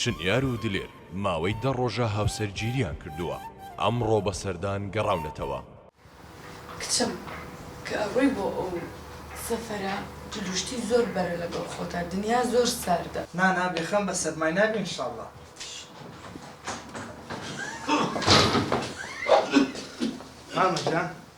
شنیار و دلێر ماوەی دە ڕۆژە هاوسەرگیرییان کردووە، ئەمڕۆ بە سەردان گەڕاونەتەوە. کچم کە ئەڕۆی بۆ ئەو سەفەرە جلوشتی زۆر بەرە لەگەڵ خۆتا دنیا زۆر ساردە. نا نا بێ خەم بە سەرمای نابی ان شاءاللە. مامە جان.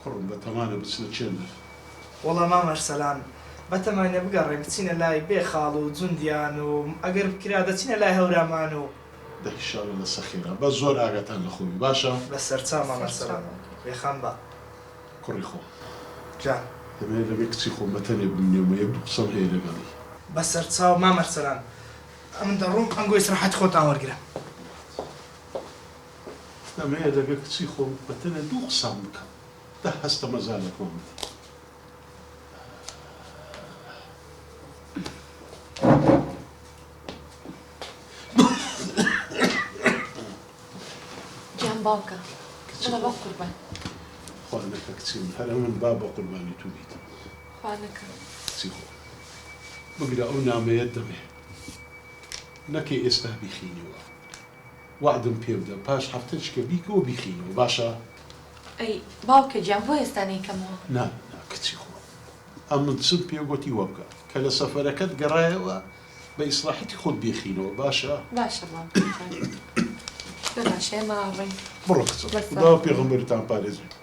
کوڕم بەتەمانە بچنە چێندەر. وەڵا مام ئەرسەلان بەتەمانە بگەڕێن بچینە لای بێ خاڵ و جوندیان و ئەگەر بکرا دەچینە لای هەورامان و. دە هیشاڵە لە سە خێرا بە زۆر ئاگاتان لە خۆ بی باشە. بە سەرچاو مام ئەرسەلان بێ خەم بە. کوڕی خۆم. جا. دەمەوێ لەگەر کچی خۆم بە تەنێ بمینێم و یەک دوو قسەم هەیە لەگەڵی. بە سەرچاو مام ئەرسەلان ئەمن دەڕۆم ئەنگۆ ئیسراحەتی خۆتان وەرگرە. دەمەوێت لەگەڵ کچی خۆم بە تەنێ دوو قسان بکەم دە هەستە مەجالێکمان بدە. گیان باوکە بڵە بە قوربان. خوا نەکە کچی من هەر ئەمن با بە قوربانی تو بیتم. خوا نەکە. کچی خۆم بگرە ئەو نامەیەت دەمێ نەکەی ئێستا بیخینیوە. وەعدم پێ بدە پاش هەفتەچکە بیکەوە بیخەینەوە باشە. ئەی باوکە گیان بۆ ئێستا نەیکەمەوە. نا نا کچی خۆم ئەمن چم پێ گۆتی وەبکە کە لە سەفەرەکەت گەڕایەوە بە ئیسراحەتی خۆت بیخەینەوە باشە. باشە باوکم جان ببەخشە ئێمە ئاڕۆین. بڕۆ کچم خودا و پێغەمبەرتان پارێزبێت.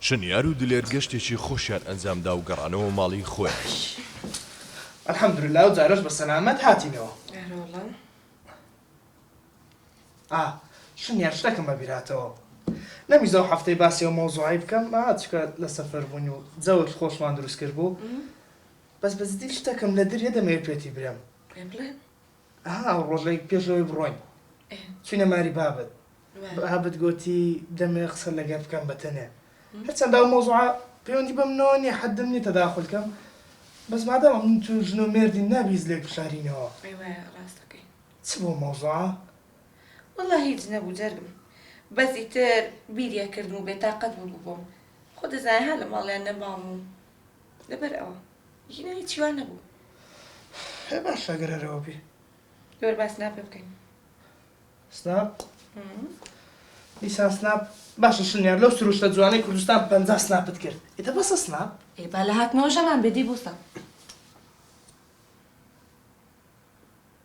چنیار و دلێر گەشتێکی خۆشیان ئەنجامدا و گەڕانەوە ماڵی خۆیان. الحمدللە ئەو جارەش بە سەلامەت هاتینەوە. ئا چنیار شتەکم بە بیر هاتەوە نەمویست ئەو هەفتەی باسی ئەو مەوزوعەی بکەم چونکە لە سەفەر بووین و جەوێکی خۆشمان دروست کرد بوو بەس بە جدی شتەکم لە دریە دەمەوێ پێتی برێم. پێم بڵێ. ها ڕۆژێک پێش ئەوەی بڕۆین چوینە ماری بابت بابت گۆتی دەمێ قسە لەگەر بکەم بە تەنێ هەرچەند ئەو مۆزوعە پەیوەندی بەم نەوە نیە حەدم نیە تەداخل کەم بەس مادەم من تو ژن و مێردی نابیز لێک بشارینەوە چ بۆ مۆزوعە؟ وەڵا هیچ نەبوو جەرگم بەس ئیتر بیریەکردم و بێتاقەت ببووم خۆ دەزانێ هەر لە ماڵیان نەمام و لەبەر ئەوە ژنە هیچی وا نەبوو. هەی باشە گەر هەر ئەوە بی. لەبەر با سناپێ بکەین. سناپ؟ دیسان سناپ باشە شنیار لەو سروشتە جوانەی کوردستان پەنجا سناپت کرد ئیتە بەسە سناپ؟ ئێ با لە هاتنەوە ژەمان بێ دی بوسە.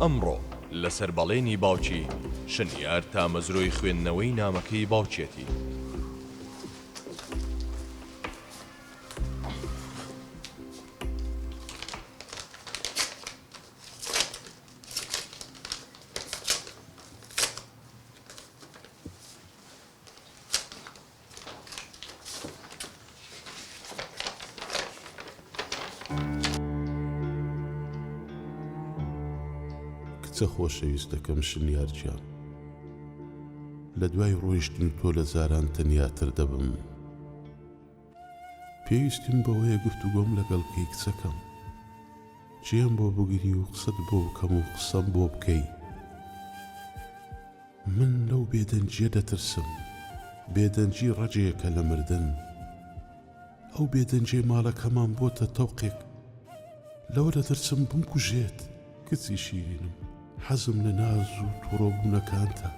ئەمڕۆ لەسەر بەڵێنی باوکی، شنیار تامەزرۆی خوێندنەوەی نامەکەی باوکیەتی. کچە خۆشەویستەکەم شنیار گیان لە دوای ڕۆیشتنی تۆ لە جاران تەنیاتر دەبم. پێویستیم بەوەیە گفتوگۆم لەگەڵ بکەی کچەکەم. جێم بۆ بگری و قسەت بۆ بکەم و قسەم بۆ بکەی. من لەو بێدەنگییە دەترسم. بێدەنگی ڕەگێکە لە مردن. ئەو بێدەنگیەی ماڵەکەمان بۆتە تەوقێک. لەوە دەترسم بمکوژێت. کچی شیرینم حەزم لە ناز و توڕە بوونەکانتە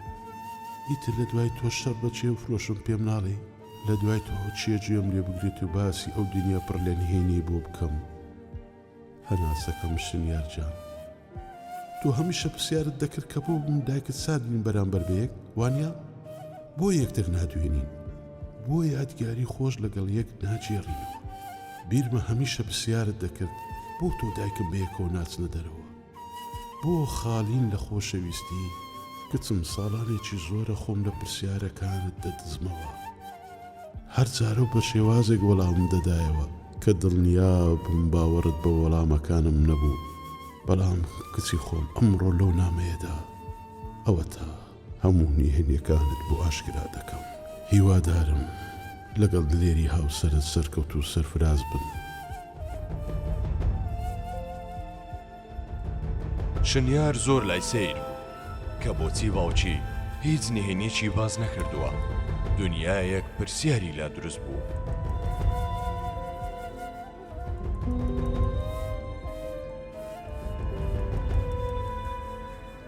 ئیتر لە دوای تۆ شەڕ بە چێ بفرۆشم پێم ناڵێی لە دوای تۆ چییە گوێم لێ بگرێت و باسی ئەو دنیا پڕ لە نهێنیی بۆ بکەم هەناسەکەم شنیار جان تۆ هەمیشە پرسیارت دەکرد کە بۆ من و دایکت سارد بین بەرامبەر بە یەک وانییە بۆ یەکتر نادوێنین بۆ یادگاری خۆش لەگەڵ یەک ناگێڕینەوە بیرمە هەمیشە پرسیارت دەکرد بۆ تۆ دایکم بەیەکەوە ناچنە دەرەوە بۆ خالین لە خۆشەویستی کچم ساڵانێکی زۆرە خۆم لە پرسیارەکانت دەدزمەوە هەر جارە و بە شێوازێک وەڵامم دەدایەوە کە دڵنیا بووم باوەڕت بە وەڵامەکانم نەبوو بەڵام کچی خۆم ئەمڕۆ لەو نامەیەدا ئەوەتا هەموو نهێنیەکانت بۆ ئاشکرا دەکەم هیوادارم لەگەڵ دلێری هاوسەرت سەرکەوتوو سەرفراز بن. شنیار زۆر لای سەیر بوو کە بۆچی باوکی هیچ نهێنیەکی باس نەکردووە، دنیایەک پرسیاری لا دروست بوو.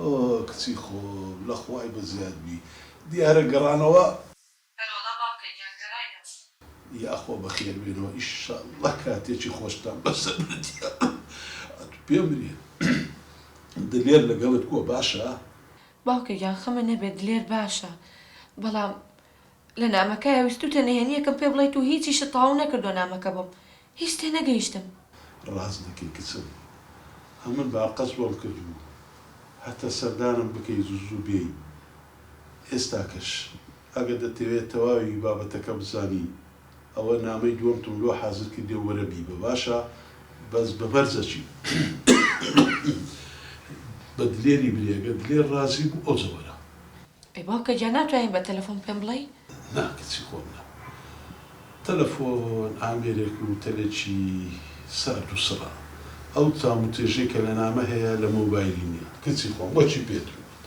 ئۆۆ کچی خۆم لە خوای بەزیاد بی دیارە گەڕانەوە. ئەرەوەڵا باوکە گیان گەڕاینەوە. یاخوا بەخێر بێنەوە ئیشاڵڵە کاتێکی خۆشتان بەسەر بردیە ئەتو پێم بریە دلێر لەگەڵت بوە باشە. باوکە گیان خەمە نەبێت دلێر باشە بەڵام لە نامەکەیا ویستوتە نهێنیەکم پێ بڵێیت و هیچیشت تەواو نەکردوە نامەکە بۆم هیچ تێ نەگەیشتم. ڕاست دەکەی کچم ئەمن باقەز وەڵ کردبوو هەتە سەردانم بکەی زوو زوو بێی ئێستاکەش ئەگە دەتەوێ تەواوی بابەتەکە بزانی ئەوە نامەی دوەمتم لۆ حازر کردیە وەرە بیبە باشە بەس بە مەرجەکی بە دلێری بری ئەگەر دلێر ڕازی بوو ئەوجە وەرە. ئەی باوکە گیان ناتوانی بە تەلەفۆن پێم بڵێی؟ نا کچی خۆم نا تەلەفۆن ئامێرێک و تەلێکی سارد و سڕە ئەو تام و تێژەی کە لە نامە هەیە لە مۆبایلی نیە کچی خۆم وەچی پێت ووت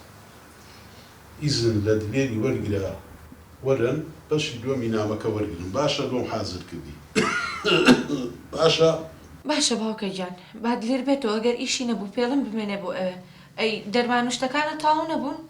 ئیزن لە دلێری وەرگرە وەرن بەشی دوەمی نامەکە وەرگرن باشە بۆم حازر کردی باشە؟ باشە باوکە گیان با دلێر بێتەوە گەر ئیشی نەبوو پێڵم بمێنێ بۆ ئەوێ ئەی دەرمان و شتەکانت تاو نەبوون؟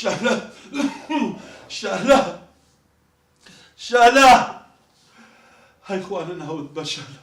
شەهلا شەهلا شەهلا هەی خوا نەناوت بە شەهلا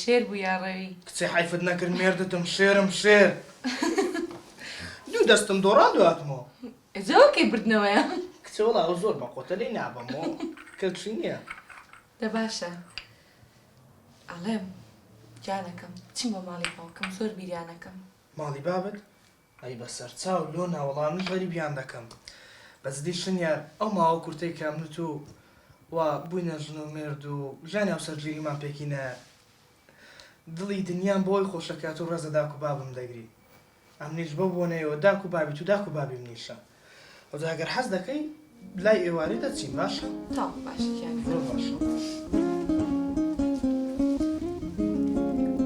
شێر بوو یا ڕەوی. کچێ حەیفت نەکرد مێردتم شێرم شێر دوو دەستم دۆڕان دواتمەوە. ئێجا وە کەی بردنەوەیە. کچێ وەڵا ئەو زۆر بەقۆتە لێی نابەمۆ کەچی نیە. دە باشە ئەڵێم گیانەکەم بچم بۆ ماڵی باوکم زۆر بیریانەکەم. ماڵی بابت؟ ئەی بەسەر چاو لۆ نا وەڵا من غەریبیان دەکەم بەس دیشن یار ئەو ماوە کورتەی کە من و تو وا بووینە ژن و مێرد و ژیانی هاوسەرگیریمان پێکی نایە دڵی دنیام بۆ وەی خۆشە کە تو ڕێز لە داک و بابم دەگری ئەمنیش بەو بۆنەیەوە داک و بابی تو داک و بابی منیشە و جا گەر حەز دەکەی لای ئێوارێ دەچین باشە تا باشە گیان زۆر باشە.